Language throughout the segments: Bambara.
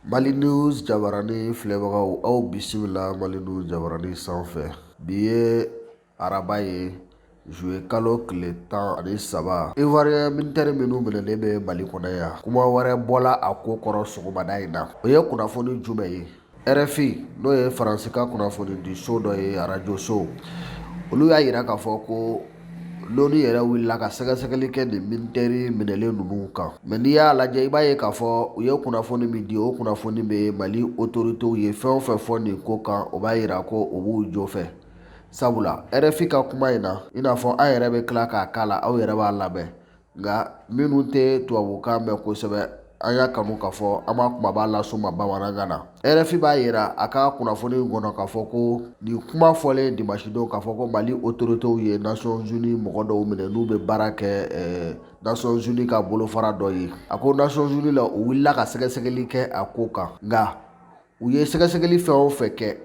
Mali news jabaranin filɛbagaw aw bisimila Mali news jabaranin sanfɛ bi ye araba ye juwe kalo tile tan ani saba ivoirien militɛri minnu minɛlen bɛ mali kɔnɔ yan kuma wɛrɛ bɔla a ko kɔrɔ sɔgɔmada in na o ye kunnafoni jumɛn ye rfi n'o ye faransikan kunnafoni di so dɔ ye arajo so olu y'a yira k'a fɔ ko L'ONU yɛrɛ wulila ka sɛgɛsɛgɛli kɛ nin militɛri minɛlen ninnu kan mɛ n'i y'a lajɛ i b'a ye k'a fɔ u ye kunnafoni min di o kunnafoni bɛ mali otoritew ye fɛn o fɛn fɔ nin ko kan o b'a yira ko o b'u jo fɛ sabula rfi ka kuma in na i n'a fɔ an yɛrɛ bɛ tila k'a k'a la aw yɛrɛ b'a lamɛn nka minnu tɛ tubabukan mɛn kosɛbɛ an y'a kanu k'a fɔ an b'a kunbaba las'u ma bamanankan na rfi b'a yira a ka kunnafoni kɔnɔ k'a fɔ ko nin kuma fɔlen dimasidon k'a fɔ ko mali otoritew ye nations unies mɔgɔ dɔw minɛ n'u bɛ baara kɛ nations unies ka bolofara dɔ ye a ko nations unies la u wulila ka sɛgɛsɛgɛli kɛ a ko kan nka u ye sɛgɛsɛgɛli fɛn o fɛn kɛ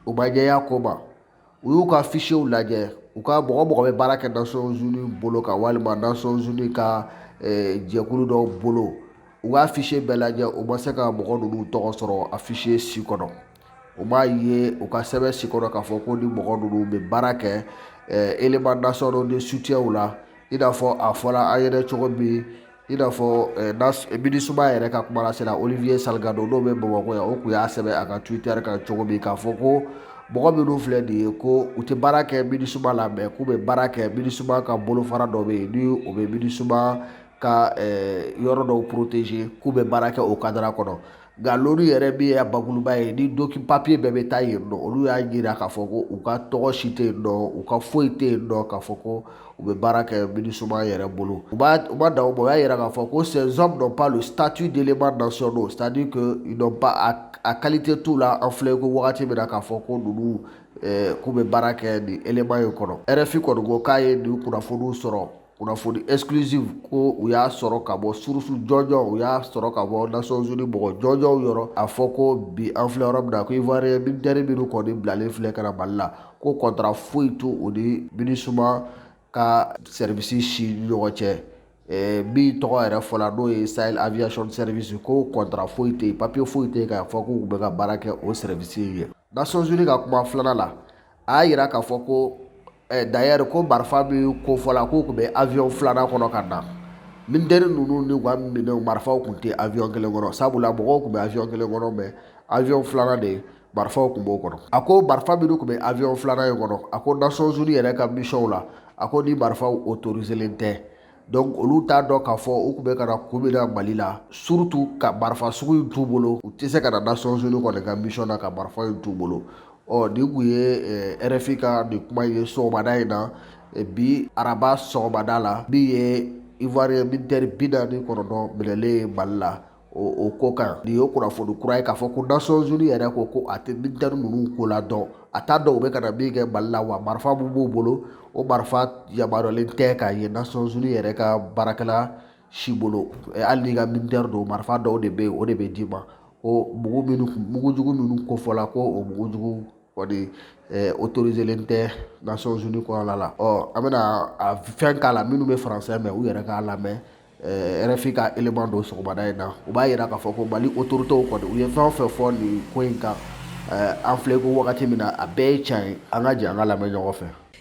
u ma jɛya ko ma u y'u ka fichiers lajɛ u ka mɔgɔ o mɔgɔ bɛ baara kɛ nations unies bolo kan walima nations unies ka eh, jɛkulu dɔw bolo u ka fichier bɛɛ lajɛ u ma se ka mɔgɔ ninnu tɔgɔ sɔrɔ a fichier si kɔnɔ u m'a ye u ka sɛbɛn si kɔnɔ k'a fɔ ko ni mɔgɔ ninnu bɛ baara kɛ eh, éléments nationaux de soutien la i n'a fɔ a fɔra an yɛrɛ cogo min i n'a fɔ minisuma yɛrɛ ka kumalasela olivier salgado n'o bɛ bamakɔ yan o tun y'a sɛbɛn a ka twitter kan cogo min k'a fɔ ko mɔgɔ minnu filɛ nin ye ko u tɛ baara kɛ minisuma la mɛ k'u bɛ baara kɛ minisuma ka bolofara dɔ bɛ yen ni o bɛ minisuma ka yɔrɔ dɔw protéger k'u bɛ baara kɛ o kadara kɔnɔ nka l'onu yɛrɛ min y'a bakuruba ye ni doku papiye bɛɛ bɛ taa yen nɔ olu y'a jira k'a fɔ ko u ka tɔgɔ si tɛ yen nɔ u ka foyi tɛ yen nɔ k'a fɔ ko u bɛ baara kɛ minisuma yɛrɛ bolo u ma u ma dan o ma u y'a yira k'a fɔ ko ces hommes n'ont pas le statut d'éléments nationaux c'est à dire que ils n'ont pas a kalite t'u la an filɛ ko wagati min na k'a fɔ ko ninnu eh, k'u bɛ baara kɛ nin élément in kɔnɔ rfi kɔni ko k'a ye nin kunnafoniw sɔrɔ kunnafoni exclusive ko u y'a sɔrɔ ka bɔ surusu jɔnjɔn u y'a sɔrɔ ka bɔ nations unies mɔgɔ jɔnjɔnw yɔrɔ a fɔ ko bi an filɛ yɔrɔ min na ko ivoirien militaire minnu kɔni bilalen filɛ ka na mali la ko kɔntara foyi t'u ni minisuma ka sɛrivisi si ɲɔgɔn cɛ eh, min tɔgɔ yɛrɛ fɔla n'o ye sahel aviation service ko kɔntara foyi tɛ yen papiye foyi tɛ yen k'a fɔ k'u bɛ ka baara kɛ o sɛrivisi in ye nations unies ka kuma filanan la a y'a yira k'a fɔ ko dayɛri ko marifa min ko fɔla k'u tun bɛ avion filanan kɔnɔ ka na militɛri ninnu n'u ka minɛnw marifaw tun tɛ avion kelen kɔnɔ sabula mɔgɔw tun bɛ avion kelen kɔnɔ mɛ avion filanan de marifaw tun b'o kɔnɔ a ko marifa minnu tun bɛ avion filanan in kɔnɔ a ko nations unies yɛrɛ ka misiyɔnw la a ko ni marifaw autoriselen tɛ donc olu t'a dɔn k'a fɔ u tun bɛ ka na kun min na mali la surtout ka marifa sugu in t'u bolo u tɛ se ka na nations unies kɔni ka mission na ka marifa in t'u bolo ɔ nin kun ye rfi ka nin kuma ye sɔgɔmada in na bi araba sɔgɔmada la min ye ivoirien militaire bi naani kɔnɔntɔn minɛlen ye mali la o ko kan nin ye kunnafoni kura ye k'a fɔ ko Nations Unies yɛrɛ ko ko a tɛ militaire ninnu ko la dɔn a t'a dɔn u bɛ ka na min kɛ Mali la wa marifa min b'u bolo o marifa yamaruyalen tɛ k'a ye Nations Unies yɛrɛ ka baarakɛla si bolo hali n'i ka militaire don marifa dɔw de bɛ yen o de bɛ d'i ma ko mugu minnu mugujugu minnu kofɔla ko o mugujugu kɔni autoriselen tɛ nations unies kɔnɔna la ɔ an bɛna a fɛn k'a la minnu bɛ faransɛ mɛn u yɛrɛ k'a lamɛn rfi ka élément don sɔgɔmada in na u b'a yira k'a fɔ ko mali autoritéw kɔni u ye fɛn o fɛn fɔ nin ko in kan an filɛ ko wagati min na a bɛɛ ye tiɲɛ ye an ka jɛ an k'a lamɛn ɲɔgɔn fɛ